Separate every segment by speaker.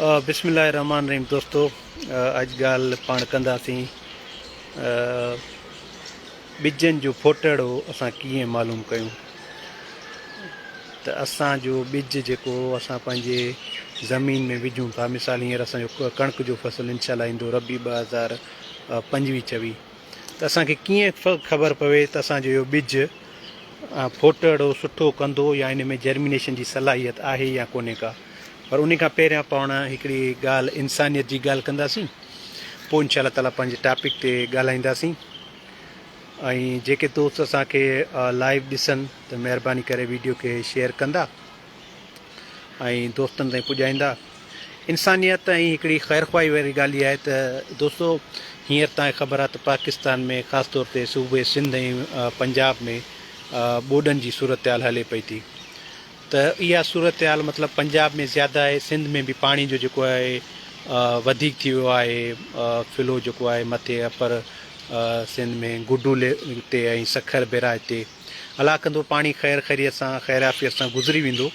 Speaker 1: بسم الله الرحمن الرحيم دوستو اڄ ڳالهه پاڻ ڪنداسين ٻجن جو ڦوٽهڙو اسان ڪيئن معلوم ڪيون ته اسان جو ٻج جيڪو اسان پنهنجي زمين ۾ وجھون ٿا مثال هينئر اسان جو ڪڻڪ جو فصل انشاء الله ايندو ربي ٻه هزار پنجويهه چوي ته اسان کي ڪيئن خبر پوي ته اسان جو اهو ٻج ڦوٽهڙو سٺو ڪندو يا ان ۾ جرمينيشن جي صلاحيت آهي يا ڪونهي ڪا پر ان کان پهريان پاڻ هڪڙي ڳالهه انسانيت جي ڳالهه ڪنداسين پوء انشاء الله تعاليٰ پنهنجي ٽاپڪ تي ڳالهائينداسين ۽ جيڪي دوست اسان کي لائيو ڏسن ته مهرباني ڪري ويڊيو کي شيئر ڪندا ۽ دوستن تائين پڄائيندا. انسانيت ۽ هڪڙي خيرخواهي واري ڳالهه اها آهي ته دوستو هينئر توهان کي خبر آهي ته پاڪستان ۾ خاص طور تي صوبي سنڌ ۽ پنجاب ۾ ٻوڏن جي صورتحال هلي پئي ٿي ته اها صورتحال مطلب پنجاب ۾ زياده آهي سنڌ ۾ به پاڻي جو جيڪو آهي وڌيڪ ٿي ويو آهي فلو جيڪو آهي مٿي اپر سنڌ ۾ گڊو تي ۽ سکر بيراج تي الله ڪندو پاڻي خير خيريت سان خيرعافيت سان گذري ويندو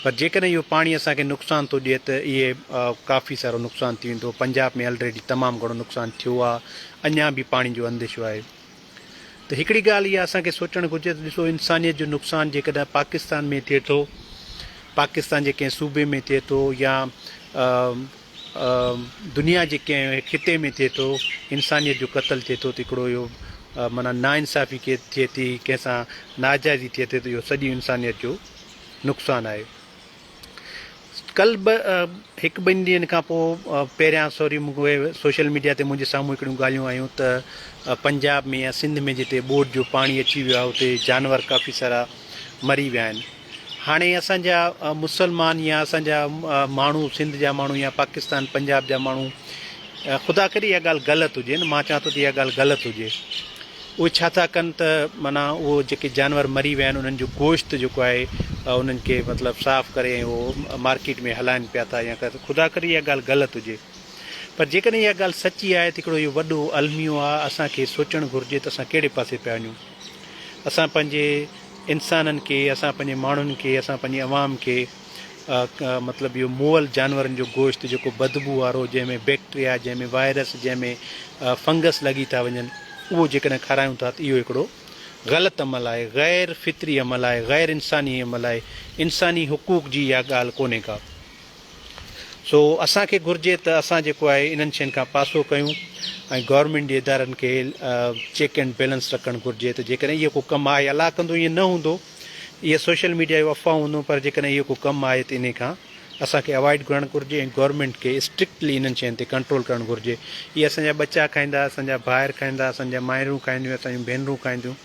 Speaker 1: پر جيڪڏهن اهو پاڻي اسان کي نقصان ٿو ڏئي ته اهي ڪافي سارو نقصان ٿي ويندو پنجاب ۾ الريڊي تمام گھڻو نقصان ٿيو آهي اڃا به پاڻي جو انديشو آهي ته هڪڙي ڳالهه اها اسان کي سوچڻ گھرجي ته ڏسو انسانيت جو نقصان جيڪڏهن پاڪستان ۾ ٿئي ٿو پاڪستان جي ڪنهن صوبي ۾ ٿئي ٿو يا دنيا جي ڪنهن خطي ۾ ٿئي ٿو انسانيت جو قتل ٿئي ٿو ته هڪڙو اهو معنيٰ نا انصافي ٿئي ٿي ڪنهن سان ناجائزي ٿئي ٿي ته اهو سڄي انسانيت جو نقصان آهي ڪل به هڪ ٻن ڏينهن کان پوء پهريان سوري مونکي سوشل ميڊيا تي منهنجي سامهون هڪڙيون ڳالهيون آيون ته پنجاب ۾ يا سنڌ ۾ جتي ٻوڏ جو پاڻي اچي ويو آهي اتي جانور ڪافي سارا مري ويا آهن هاڻي اسان جا مسلمان يا اسان جا ماڻهو سنڌ جا ماڻهو يا پاڪستان پنجاب جا ماڻهو خدا ڪري اها ڳالهه غلط هجي نه مان چوان ٿو ته اها ڳالهه غلط هجي اهي ڇا ٿا ڪن ته معنيٰ اهو جيڪي جانور مري ويا آهن انهن جو گوشت جيڪو آهي انهن کي مطلب صاف ڪري ۽ اهو مارڪيٽ ۾ هلائن پيا ٿا يا خدا ڪري اها ڳالهه غلط هجي پر جيڪڏهن اها ڳالهه سچي آهي ته هڪڙو اهو وڏو الميو آهي اسان کي سوچڻ گهرجي ته اسان ڪهڙي پاسي پيا وڃون اسان پنهنجي انسانن کي اسان پنهنجي ماڻهن کي اسان پنهنجي عوام کي مطلب اهو مئل جانورن جو گوشت جيڪو بدبو وارو جنهن ۾ بيڪٽريا جنهن ۾ وائرس جنهن ۾ فنگس لڳي ٿا وڃن اهو جيڪڏهن کارايون ٿا ته اهو هڪڙو غلط عمل آهي غير فطري عمل آهي غير انساني عمل آهي انساني حقوق جي اها ڳالهه ڪونهي ڪا. سو اسان کي گهرجي ته اسان جيڪو آهي انهن شين کان پاسو ڪيون ۽ گورنمينٽ جي ادارن کي چيڪ اينڊ بيلنس رکڻ گهرجي ته جيڪڏهن اهو ڪو ڪم آهي الله ڪندو ائين نه هوندو اهي سوشل ميڊيا جون افواهون هونديون پر جيڪڏهن اهو ڪو ڪم آهي ته انهي کان اسان کي اوائڊ ڪرڻ گهرجي ۽ گورنمينٽ کي اسٽرڪٽلي انهن شين تي ڪنٽرول ڪرڻ گهرجي اهي اسان جا ٻچا کائيندا اسان جا ڀائر کائيندا اسان جا مائرون کائينديون اسان جون ڀينرون کائينديون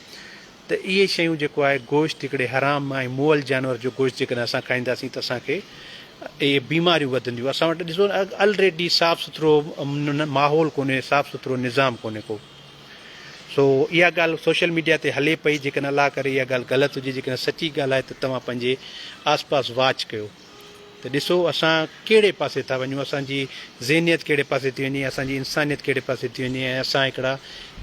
Speaker 1: ته اهي شيون جيڪو آهي گوشت هڪڙي حرام ۽ مئل جانور جو گوشت جيڪڏهن اسان کائينداسين ته اسان کي اهي بيماريون وڌنديون اسان وٽ ڏسو الريڊي صاف سٿرو ماحول ڪونهي صاف سٿرو نظام ڪونهي ڪو سو اها ڳالهه سوشل ميڊيا تي هلي پئي جيڪڏهن الله ڪري اها ڳالهه غلط هجي جيڪڏهن سچي ڳالهه آهي ته توهان پنهنجي آس پاس واچ ڪيو ته ڏسو اسان ڪهڙي پاسي ٿا وڃون، اسان جي ذهنيت ڪهڙي پاسي ٿي وڃي، اسان جي انسانيت ڪهڙي پاسي ٿي وڃي ۽ اسان هڪڙا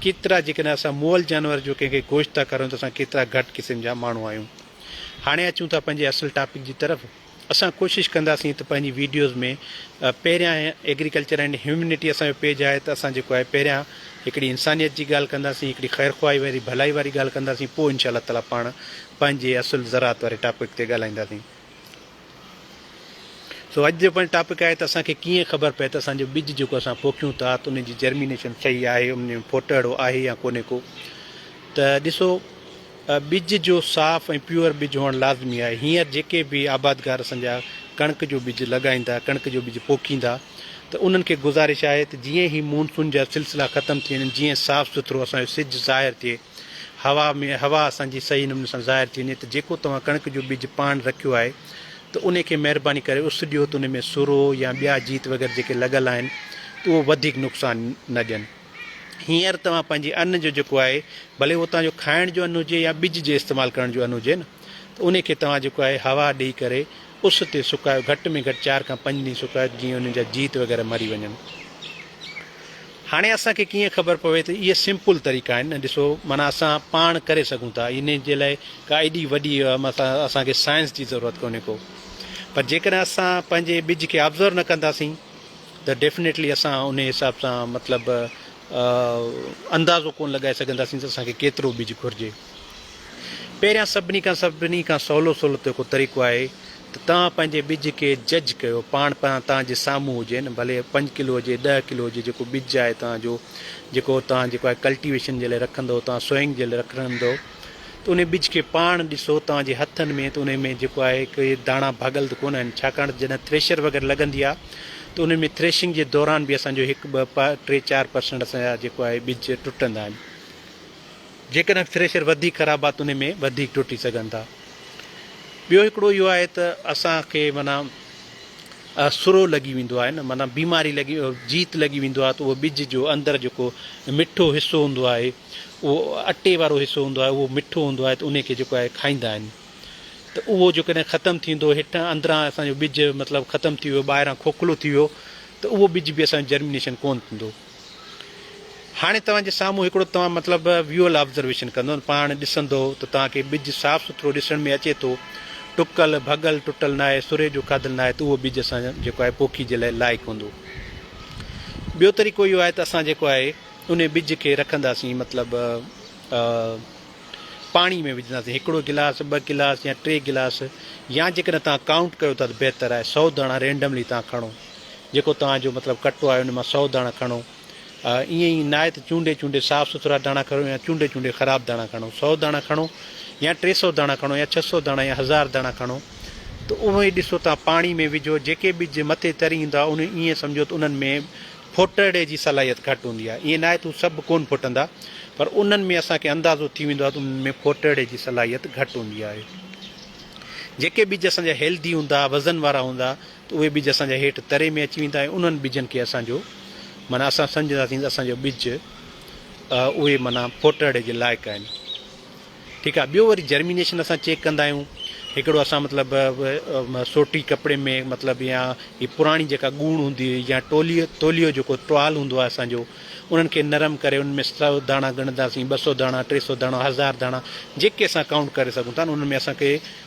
Speaker 1: ڪيترا جيڪڏهن اسان مئل جانور جو ڪنهن کي گوشت ٿا کارائيون ته اسان ڪيترا گهٽ قسم جا ماڻهو آهيون. هاڻي اچون ٿا پنهنجي اصل ٽاپڪ جي طرف، اسان ڪوشش ڪنداسين ته پنهنجي ويڊيوز ۾ پهريان ايگريڪلچر اينڊ هيومنٽي اسان جو پيج آهي ته اسان جيڪو آهي پهريان هڪڙي انسانيت جي ڳالهه ڪنداسين، هڪڙي خير خواهي واري ڀلائي واري ڳالهه ڪنداسين پوء انشاء الله تعاليٰ پاڻ پنهنجي اصل زراعت واري ٽاپڪ تي ڳالهائينداسين. سو اڄ جو پنهنجو ٽاپڪ آهي ته اسان کي ڪيئن خبر پئي ته اسان جو ٻج جيڪو اسان پوکيون ٿا ته ان جي جرمينيشن صحيح آهي ان ۾ ڦوٽهڙو آهي يا ڪونهي ڪو ته ڏسو ٻج جو صاف ۽ پيور ٻج هئڻ لازمي آهي هينئر جيڪي به آبادگار اسان جا ڪڻڪ جو ٻج لڳائيندا ڪڻڪ جو ٻج پوکيندا ته انهن کي گذارش آهي ته جيئن هي مونسون جا سلسلا ختم ٿي وڃن جيئن صاف سٿرو اسان جو سج ظاهر ٿئي هوا ۾ هوا اسان جي صحيح نموني سان ظاهر ٿي وڃي ته جيڪو توهان ڪڻڪ جو ٻج پاڻ رکيو آهي ته انهي کي مهرباني ڪري اس ڏيو ته انهي ۾ سرو يا ٻيا جيت وغيره جيڪي لڳل آهن ته اهو وڌيڪ نقصان نه ڏين. هينئر توهان پنهنجي ان جو جيڪو آهي ڀلي اهو توهان جو کائڻ جو ان هجي يا ٻج جي استعمال ڪرڻ جو ان هجي نه ته انهي کي توهان جيڪو آهي هوا ڏئي ڪري اس تي سڪايو گهٽ ۾ گهٽ چار کان پنج ڏينهن سڪايو ته جيئن انهن جا جيت وغيره مري وڃن. هاڻي اسان کي ڪيئن خبر پوي ته اهي سمپل طريقا آهن ۽ ڏسو معنيٰ اسان پاڻ ڪري سگهون ٿا انهي جي لاء ڪا ايڏي وڏي مطلب اسان کي سائنس جي ضرورت ڪونهي ڪو پر جيڪڏهن اسان پنهنجي ٻج کي آبزرو نه ڪنداسين ته ڊيفنيٽلي اسان انهي حساب سان مطلب اندازو ڪونه لڳائي سگهنداسين ته اسان کي ڪيترو ٻج گهرجي. پهريان سڀني کان سڀني کان سولو سولو طريقو طريقو آهي ته توهان پنهنجي ٻج کي جج ڪيو پاڻ پاڻ توهان جي سامهون هجي نه ڀلي پنج ڪلو هجي ڏهه ڪلو هجي جيڪو ٻج آهي توهان جو جيڪو توهان جيڪو آهي ڪلٽيويشن جي لاء رکندو توهان سوئنگ جي لاء رکندو ته انهي ٻج کي پاڻ ڏسو توهان جي هٿن ۾ ته انهي ۾ جيڪو آهي ڪي داڻا ڀاڳل ته ڪونه آهن ڇاڪاڻ ته جڏهن ٿريشر وغيره لڳندي آهي ته انهن ۾ ٿريشنگ جي دوران به اسان جو هڪ ٻه ٽي چار پرسنٽ اسان جا جيڪو آهي ٻج ٽٽندا آهن جيڪڏهن ٿريشر وڌيڪ خراب آهي ته ان ۾ وڌيڪ ٽٽي سگهن ٿا. ٻيو هڪڙو اهو آهي ته اسان کي معنيٰ سرو لڳي ويندو آهي نه معنيٰ بيماري لڳي جيت لڳي ويندو آهي ته اهو ٻج جو اندر جيڪو مٺو حصو هوندو آهي اهو اٽي وارو حصو هوندو آهي اهو مٺو هوندو آهي ته ان کي جيڪو آهي کائيندا آهن ته اهو جيڪڏهن ختم ٿيندو هيٺان اندران اسان جو ٻج مطلب ختم ٿي ويو ٻاهران کوکلو ٿي ويو ته اهو ٻج به اسان جو جرمينيشن ڪونه ٿيندو. هاڻي توهان جي سامهون هڪڙو توهان مطلب ويول آبزرويشن ڪندو پاڻ ڏسندو ته توهان کي ٻج صاف سٿرو ڏسڻ ۾ اچي ٿو، ٽڪل، ڀڳل، ٽٽل ناهي، سري جو کاڌل ناهي ته اهو ٻج اسان جيڪو آهي پوکي جي لاء لائق هوندو. ٻيو طريقو اهو آهي ته اسان جيڪو آهي انهي ٻج کي رکنداسين مطلب پاڻي ۾ وجهنداسين هڪڙو گلاس، ٻه گلاس يا ٽي گلاس يا جيڪڏهن توهان ڪائونٽ ڪيو ٿا ته بهتر آهي سؤ داڻا رينڊملي توهان کڻو. جيڪو توهان جو مطلب ڪٽو آهي ان مان سؤ داڻا کڻو ائين ئي نهايت چونڊي چونڊي صاف سٿرا داڻا کڻو يا چونڊي چونڊي خراب داڻا کڻو سؤ داڻا کڻو يا ٽي سؤ داڻا کڻو يا ڇهه سؤ داڻا يا هزار داڻا کڻو ته اهي ڏسو توهان پاڻي ۾ وجهو جيڪي ٻج مٿي تري ايندا ان ائين سمجهو ته انهن ۾ ڦٽڙي جي صلاحيت گهٽ هوندي آهي ائين ناهي ته هو سڀ ڪونه ڦٽندا پر انهن ۾ اسان کي اندازو ٿي ويندو آهي ته انهن ۾ ڦٽڙي جي صلاحيت گهٽ هوندي آهي جيڪي ٻج اسان جا هيلڌي هوندا وزن وارا هوندا ته اهي ٻج اسان جا هيٺ تري ۾ اچي ويندا ۽ انهن ٻجن کي اسان جو معنيٰ اسان سمجهنداسين ته اسان جو ٻج اهي معنيٰ ڦوٽهڙي جي لائق آهن ٺيڪ آهي ٻيو وري جرمينيشن اسان چيڪ ڪندا آهيون هڪڙو اسان مطلب سوٽي ڪپڙي ۾ مطلب يا هي پراڻي جيڪا ڳوڻ هوندي هئي يا ٽوليو توليو جيڪو ٽوال هوندو آهي اسان جو انهن کي نرم ڪري ان ۾ سو داڻا ڳڻنداسين ٻه سو داڻا ٽي سو داڻا هزار داڻا جيڪي اسان ڪائونٽ ڪري سگهون ٿا انهن ۾ اسان کي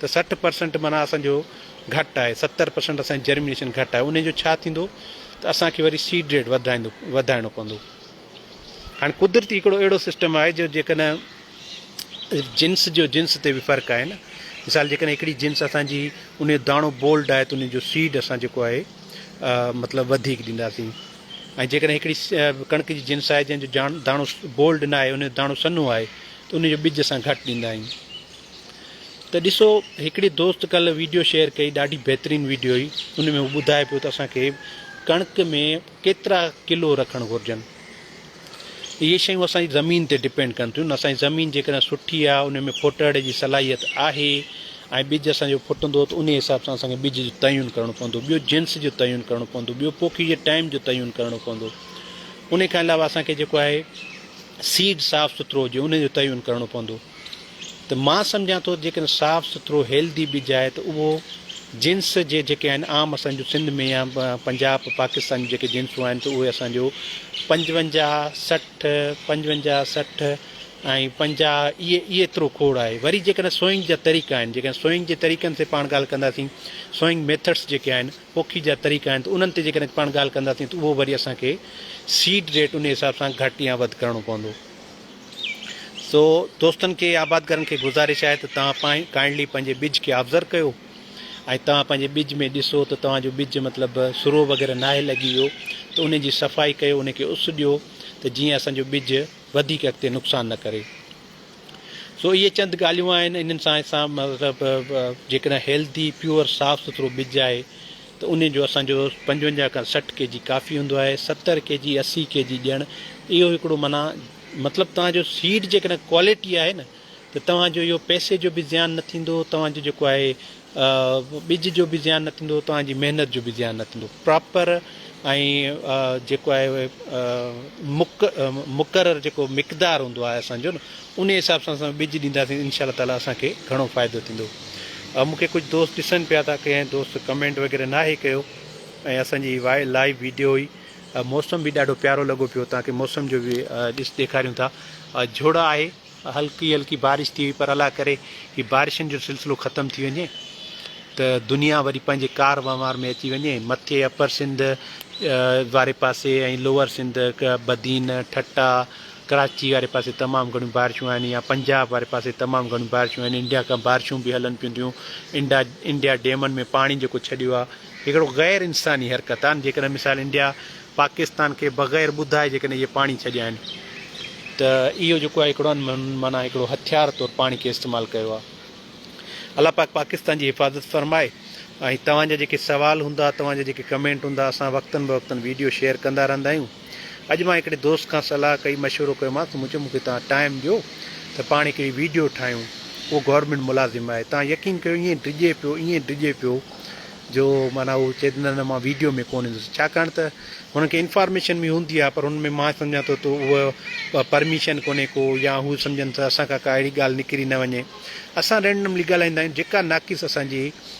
Speaker 1: ته سٺ پرسنٽ معنيٰ اسان جو گهٽ آهي ستر پرسنٽ اسان جي جرمينيشن گهٽ آهي انهي جو ڇا ٿيندو ته اسان کي وري سيڊ ريٽ وڌرائيندو وڌائڻو پوندو هاڻي قدرتي هڪڙو اهڙو سسٽم آهي جو جيڪڏهن جنس جو جنس تي به فرق آهي نه مثال جيڪڏهن هڪڙي جنس اسان جي ان جو داڻو بولڊ آهي ته ان جو سيڊ اسان جيڪو آهي مطلب وڌيڪ ڏينداسين ۽ جيڪڏهن هڪڙي ڪڻڪ جي جنس آهي جنهن جو داڻو بولڊ نه آهي ان جو داڻو سنهو آهي ته ان جو ٻج اسان گهٽ ڏيندا آهيون ته ڏسو هڪڙي دوست ڪلهه ويڊيو شيئر ڪئي ڏاڍي بهترين ويڊيو هئي ان ۾ هو ٻڌائي پيو ته اسان کي ڪڻڪ ۾ ڪيترا ڪلو رکڻ گهرجن اهي شيون اسان جي زمين تي ڊپينڊ ڪن ٿيون اسان جي زمين جيڪڏهن سٺي آهي ان ۾ ڦٽڙ جي صلاحيت آهي ۽ ٻج اسان جو ڦٽندو ته ان حساب سان اسان کي ٻج جو تعين ڪرڻو پوندو ٻيو جنس جو تعين ڪرڻو پوندو ٻيو پوکي جي ٽائيم جو تعين ڪرڻو پوندو ان کان علاوه اسان کي جيڪو آهي سيڊ صاف سٿرو هجي ان جو تعين ڪرڻو پوندو ته مان سمجهان ٿو ته جيڪڏهن صاف سٿرو هيلڌي ٻج آهي ته اهو جنس جي جيڪي آهن عام اسان جون سنڌ ۾ يا پنجاب پاڪستان جون جيڪي جنسون آهن ته اهي اسان جو پنجونجاهه سٺ پنجونجاهه سٺ ۽ پنجاهه اهي ايترو کوڙ آهي وري جيڪڏهن سوئنگ جا طريقا آهن جيڪڏهن سوئنگ جي طريقن تي پاڻ ڳالهه ڪنداسين سوئنگ ميٿڊس جيڪي آهن پوکي جا طريقا آهن ته انهن تي جيڪڏهن پاڻ ڳالهه ڪنداسين ته اهو وري اسان کي سيڊ ريٽ ان حساب سان گهٽ يا وڌ ڪرڻو پوندو سو دوستن کي آبادگارن کي گذارش آهي ته توهان پائين ڪائنڊلي پنهنجي ٻج کي آبزرو ڪيو ۽ توهان پنهنجي ٻج ۾ ڏسو ته توهان جو ٻج مطلب سرو وغيره ناهي لڳي ويو ته ان جي صفائي ڪيو ان کي اس ڏيو ته جيئن اسان جو ٻج وڌيڪ اڳتي نقصان نه ڪري سو اهي چند ڳالهيون آهن انهن سان اسان مطلب جيڪڏهن هيلٿي پيور صاف سٿرو ٻج آهي ته انهن جو اسان جو پنجونجاهه کان سٺ ڪي جي ڪافي هوندو آهي ستر ڪي جي اسي ڪي جي ڏيڻ اهو هڪڙو معنيٰ مطلب توهان جو سيڊ جيڪڏهن ڪواليٽي آهي نه ته توهان جو اهو پئسي جو به زيان نه ٿيندو توهان جو جيڪو آهي ٻج جو به زيان نه ٿيندو توهان جي محنت جو به زيان نه ٿيندو پراپر ۽ جيڪو آهي مڪ مقرر جيڪو مقدار هوندو آهي اسان جو نه انهي حساب سان اسان ٻج ڏينداسين انشاء الله تعالي اسان کي گهڻو فائدو ٿيندو ۽ مون کي ڪجهه دوست ڏسن پيا ٿا ڪنهن دوست ڪمينٽ وغيره ناهي ڪيو ۽ اسان جي وائي لائيو ويڊيو هئي موسم به ڏاڍو پيارو لڳو پيو تاڪي موسم جو به ڏس ڏيکاريون ٿا جھڙا آهي هلڪي هلڪي بارش ٿي وئي پر الله ڪري هي بارشن جو سلسلو ختم ٿي وڃي ته دنيا وري پنهنجي ڪار وهنوار ۾ اچي وڃي مٿي اپر سنڌ واري پاسي ۽ لوور سنڌ بدين ٺٽا ڪراچي واري پاسي تمام گهڻيون بارشون آهن يا پنجاب واري پاسي تمام گهڻيون بارشون آهن انڊيا کان بارشون به هلن پيون ٿيون انڊا انڊيا ڊيمن ۾ پاڻي جيڪو ڇڏيو آهي هڪڙو غير انساني حرڪت آهن جيڪڏهن مثال انڊيا پاڪستان کي بغير ٻڌائي جيڪڏهن اهي پاڻي ڇڏيا آهن ته اهو جيڪو آهي هڪڙو معنيٰ هڪڙو هٿيار طور پاڻي کي استعمال ڪيو آهي الله پاڪ پاڪستان جي حفاظت فرمائي ۽ توهان جا جيڪي سوال هوندا توهان جا جيڪي ڪمينٽ هوندا اسان وقتن بوقتن ويڊيو شيئر ڪندا رهندا آهيون اڄ مان هڪڙي دوست کان صلاح ڪئي مشورو ڪيومانس مون چيو مون کي توهان ٽائيم ڏيو ته پاڻ هڪڙي ويڊيو ٺاهيون اهو گورنمينٽ ملازم آهي توهان يقين ڪيو ائين ڊڄي پيو ائين ڊڄي پيو جو معنيٰ اهو چئي ته نه نه مان ويڊيو ۾ ڪونه ايندس ڇاڪاڻ ته هن کي انفارميشن به هوندي آهي پر هن ۾ مان سمجهان ٿو ته اهو پرميشن ڪونه ڪو يا هو سمجهن ته اسان کان ڪا اهڙي ڳالهه نڪري نه وڃي اسان رينڊملي ڳالهائيندا آهيون جيڪا ناقص اسان جي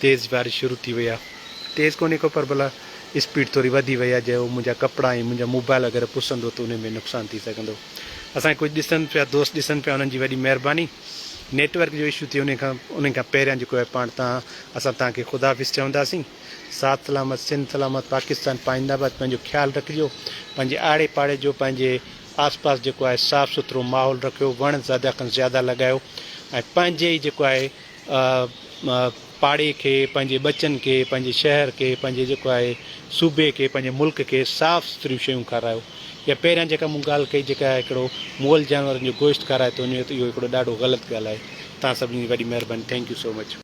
Speaker 1: تيز بارش شروع ٿي وئي آ تيز ڪونهي ڪو پر ڀلا اسپيڊ ٿوري وڌي وئي آ جي هو منهنجا ڪپڙا ۽ منهنجا موبائل وغيره پسندو ته انهي ۾ نقصان ٿي سگهندو اسان کي ڪجهه ڏسن پيا دوست ڏسن پيا انهن جي وڏي مهرباني نيٽ ورڪ جو اشو ٿئي انهي کان انهي کان پهريان جيڪو آهي پاڻ تان اسان تان کي خدا حافظ چونداسين ساٿ سلامت سنڌ سلامت پاڪستان پائند آباد پنهنجو خيال رکجو پنهنجي آڙي پاڙي جو پنهنجي آس پاس جيڪو آهي صاف سٿرو ماحول رکيو وڻ زياده کان زياده لڳايو ۽ پنهنجي ئي جيڪو آهي پاڙي کي، پنهنجي ٻچن کي، پنهنجي شهر کي، پنهنجي جيڪو آهي صوبي کي، پنهنجي ملڪ کي صاف سٿريون شيون کارايو. اها پهريان جيڪا مون ڳالهه ڪئي جيڪا هڪڙو مئل جانورن جو گوشت کارائي ٿو وڃي ته اهو هڪڙو ڏاڍو غلط ڳالهه آهي. توهان سڀني جي وڏي مهرباني. Thank you so much.